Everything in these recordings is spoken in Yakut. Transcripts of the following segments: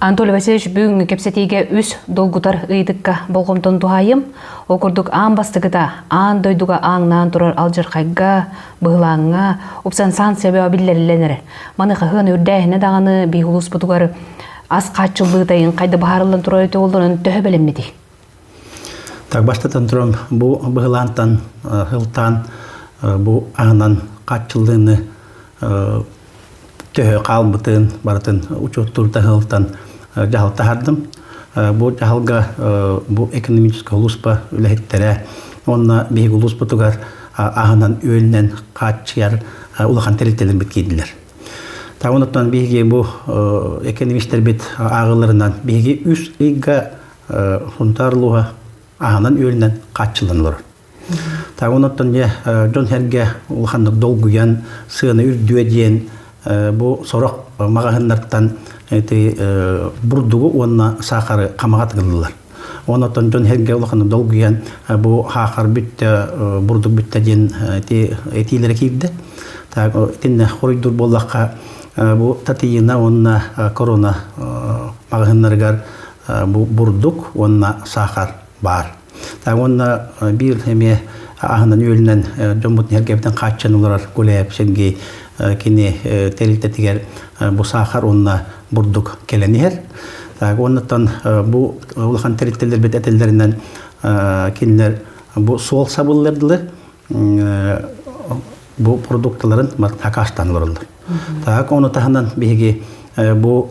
Анатолий Васильевич бүгүҥҥү кэпсэтиигэ үс долгутар ыйытыкка болҕомтон туһаайым. Ол курдук аан бастакыта аан дойдуга ааҥнаан турар алдьархайга, быһылааҥҥа упсан санкция биллэриллэн эрэр. Маны хаһыан үрдээһинэ даҕаны биир улууспутугар ас хааччыллыытайын хайда быһаарыллан турар туоллунан төһө бэлэммитий? Так бастатан туран бу быһылаантан сылтаан бу аанан хаччыллыыны төһө хаалбытын барытын учуоттуурта сылтан дьаһал таһардым. Бу дьаһалга бу экономическай улууспа үлэһиттэрэ уонна биһиги улууспутугар аанан үөлүнэн хааччыйар улахан тэрилтэлэрбит киирдилэр. Таҕын оттон биһиги бу экономистэрбит ааҕыларынан биһиги үс ыйга Хунтаар луга аһынан-үөлүнэн хааччыллан олорор. Таах онуттан дьэ дьон-сэргэ улаханнык долгуйан, сыаны үрдүө диэн бу сорох маҕаһыыннартан бурдугу уонна саахары хамаҕа тыгыллылар. Онуттан дьон-сэргэ улаханнык долгуйан бу хаахар бүттэ, бурдук бүттэ диэн этиилэрэ киирдэ. Так итиннэ хоруйдуур буоллахха бу Татьяна уонна Корона маҕаһыыннарыгар бурдук уонна сахар баар. Уонна биир эмиэ аһынан-үөлүнэн дьоммут ньэргэбитин хааччан олорор Гуляев Сергей кини тэрилтэтигэр бу сахар уонна бурдук кэлэн иһэр. Так уоннаттан бу улахан тэрилтэлэрбит этэллэринэн кинилэр бу суол сабыллырдылар бу продукталарын хакаштан олороллор. Так ону таһынан биһиги бу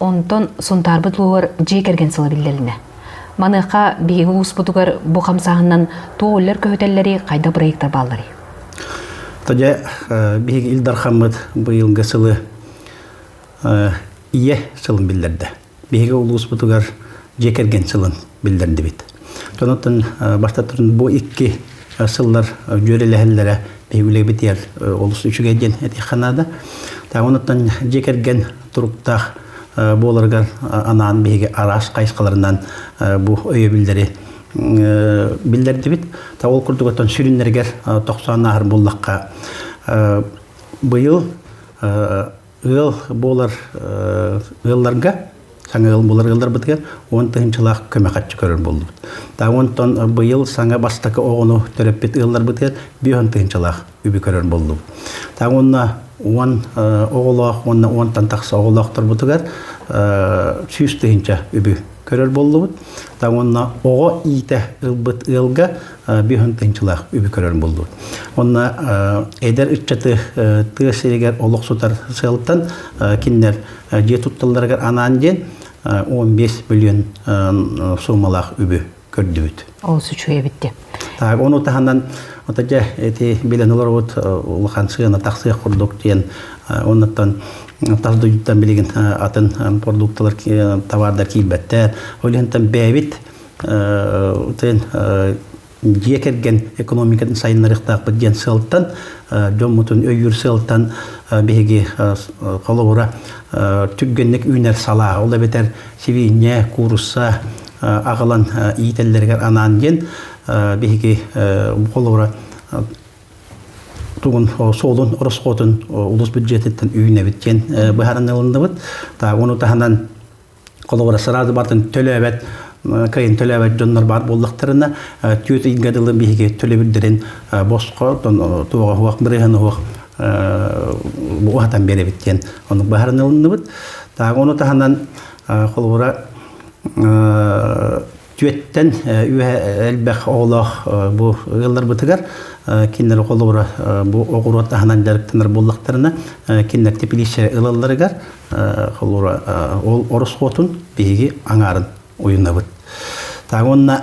Онтон Сунтаарбыт лугугар дьиэ кэргэн сыла биллэринэ. Маныаха биһиги улууспутугар бу хамсааһыннан туоллар көһөтөллөрү хайдах проектар баалларый? Тоде биһиги Ил Дархаммыт быйылгы сылы ийэ сылын биллэрдэ. Биһиги улууспутугар дьиэ кэргэн сылын биллэрдибит. Тонуттан бастатырын бу икки сыллар дьүөрэлэһэллэрэ биһиги үлэбит яр олус үчүгэй диэн этиэххэ наада. Тааманаттан дьиэ кэргэн туруктаах буоларыгар анаан биһиги араас хайысхаларынан бу өйөбүллэри биллэрдибит. Та ол курдугуттан сүрүннэригэр тохсоон ааһар буллахха быйыл ыал буолар ыалларга саҥа ыал булар ыалларбытыгар он тыһынчылаах көмө хаччы көрөр булдубут. Та онтон быйыл саҥа бастакы оҕону төрөппүт ыалларбытыгар биһон тыһынчылаах үбү көрөр буллум. Так уонна уон оҕолоох уонна уонтан тахса оҕолоохторбутугар сүүс тыһынча үбү көрөр боллубут. Так уонна оҕо иитэ ылбыт ыалга бүйүн тыһынчылаах үбү көрөр боллубут. Онна эдер ыччаты тыа сиригэр олох сутар сыалтан кинилер дьиэ тутталларыгар анаан диэн 15 миллион суммалаах үбү көрдүбүт. Олус үчүгэй эбитти. Так, ону таһынан отаджа эти билен олорбут улахан сыана тахсыах курдук диэн оннуттан тас дойдуттан билигин атын продукталар товардар киирбэттэр. Олихантан бэбит тен дьиэ кэргэн экономикатын сайыннарыктаахпыт диэн сылтан дьоммутун өйүүр сылтан биһиги холобура түргенник үүнэр салаа ол эбэтэр сибиинньэ, куурусса аҕалан иитэллэригэр анаан диэн биһиги холобура тугун суолун ороскуотун улус бюджетиттэн үүнэбит диэн быһаарынылынныбыт. Та ону таһынан холобура сразу бартын төлөөбөт кайын төлөөбөт дьоннор бар буоллахтарына түөт ыйга дылы биһиги төлөбүрдэрин босхо туоҕа хуах бырыһаны хуах бугу хатан биэрэбит диэн оннук баһарынылынныбыт. Тағы оны таһынан холобура түөттен элбэх оҕолоох бу ыалларбытыгар киннер холобура бу оҕуруот таһынан дьарыктанар буллахтарына киннер тепилище ылалларыгар холобура ол орос хотун биһиги аңаарын уйунабыт. Тағы онна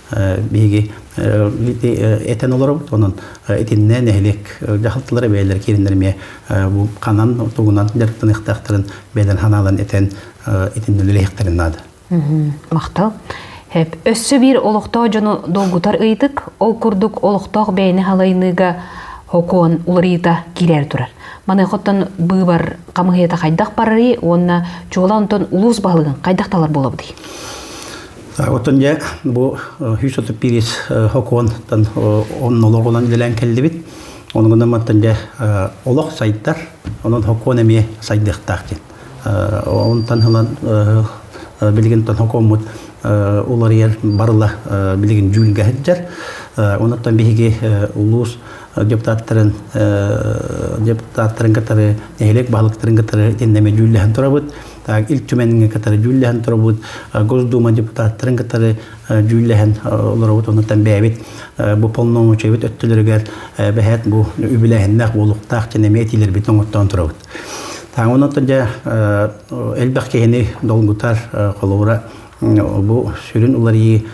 биһиги этэн олоробут онон итиннэ нэһилиэк дьаһалталара бэйэлэр киириннэр эмиэ бу ханан тугунан дьарыктаныахтаахтарын бэйэлэрин ханаалан этэн итиннэ үлэлэһиэхтэрин наада махтал өссө биир олохтоох дьону долгутар ыйытык ол курдук олохтоох бэйэни халайыныыга хокуон уларыйыта киирээр турар маныхаттан быыбар хамыһыйата хайдах барарый уонна чуолаан онтон улуус баһылыгын хайдах талар буолабытый Оттон дьэ бу 130 пирис хокуонтан оннолоҕунан үлэлээн кэллибит. Ону гынан мантан дьэ олох сайдар, онон хокуон эмиэ сайдыахтаах диэн. Онтон ылан билигинтэн хокуоммут уларыйар барыла билигин дьүүлгэ сылдьар. Онуттан биһиги улуус депутаттарын депутаттарын кытары нэһилиэк баһылыктарын кытары итиннэми дьүүллэһэн турабыт. так Ил Түмэҥҥэ кытары дьүүллэһэн турабыт, Госдума депутаттарын кытары дьүүллэһэн олоробут, онтон бэйэбит бу полномочиябыт өттөлөрүгэр бэһэт бу үбүлээһиннээх буолуктаах дьэн эмиэ этиилэрбит оҥоттоон турабыт. Так онон дьэ элбэх киһини долгутар, холобура бу сүрүн уларыйыы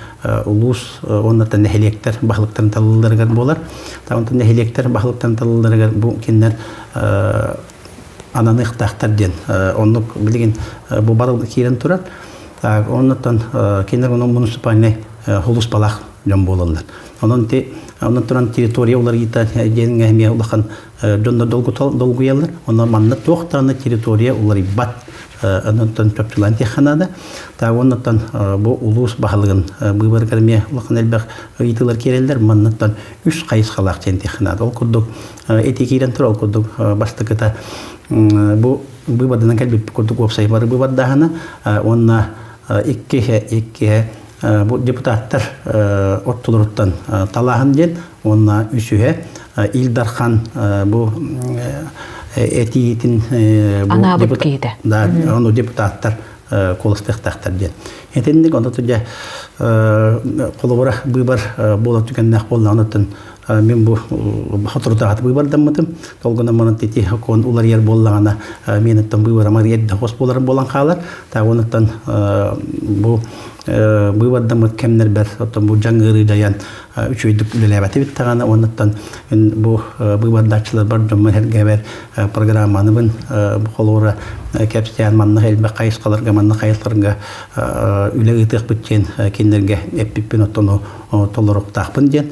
улуус уонна нэһилиэктэр баһылыктарын талылларыгар буолар. Таонта нэһилиэктэр баһылыктарын талылларыгар бу кинилэр ананыахтаахтар диэн оннук билигин бу бары киирэн турар оннуттан кинилэр муниципальнай хулуспалаах дьон буолаллар онон онон туран территория уларыйыта диэн эмиэ улахан дьоннор долгуйаллар онон манна туох даҕаны территория уларыйбат оннуттан чопчулаан диэххэ наада та оннуттан бу улуус баһылыгын быыбарыгар эмиэ улахан элбэх ыйытыылар киирэллэр манныттан үс хайысхалаах диэн диэххэ наада ол курдук ити киирэн турар курдук бастакыта бу быыбарданан кэлбит курдук уопсай бары быыбардаһана уонна иккиһэ иккиһэ бу депутаттар оттулуруттан талааһын диэн уонна үсүһэ Ил Дархан бу этиитин анаабыт киһитэ да ону депутаттар куоластыахтаахтар диэн итинник онно тудя холобура быыбар буола түгэннээх буоллаҕын оттон Мин бу соторутааҕыта быыбардаммытым. Ол гынан баран ити окуон уларыйар буоллаҕына мен оттон быыбарамар эрдэ хос буолар буолан хаалар. Тағы онуттан бу быыбардаммыт кэмнэрбэр оттон бу жаң ыарыы дайан үчүөйдүк үлэлээбэти биттэҕана онуттан бу быыбардааччылар бар дьоммун эргэбэр программаныбын холуора кэпсээн манна элбэх хайысхаларга манна хайысхаларга үлэ ыытыахпыт диэн кинилэргэ эппиппин оттону толоруктаахпын диэн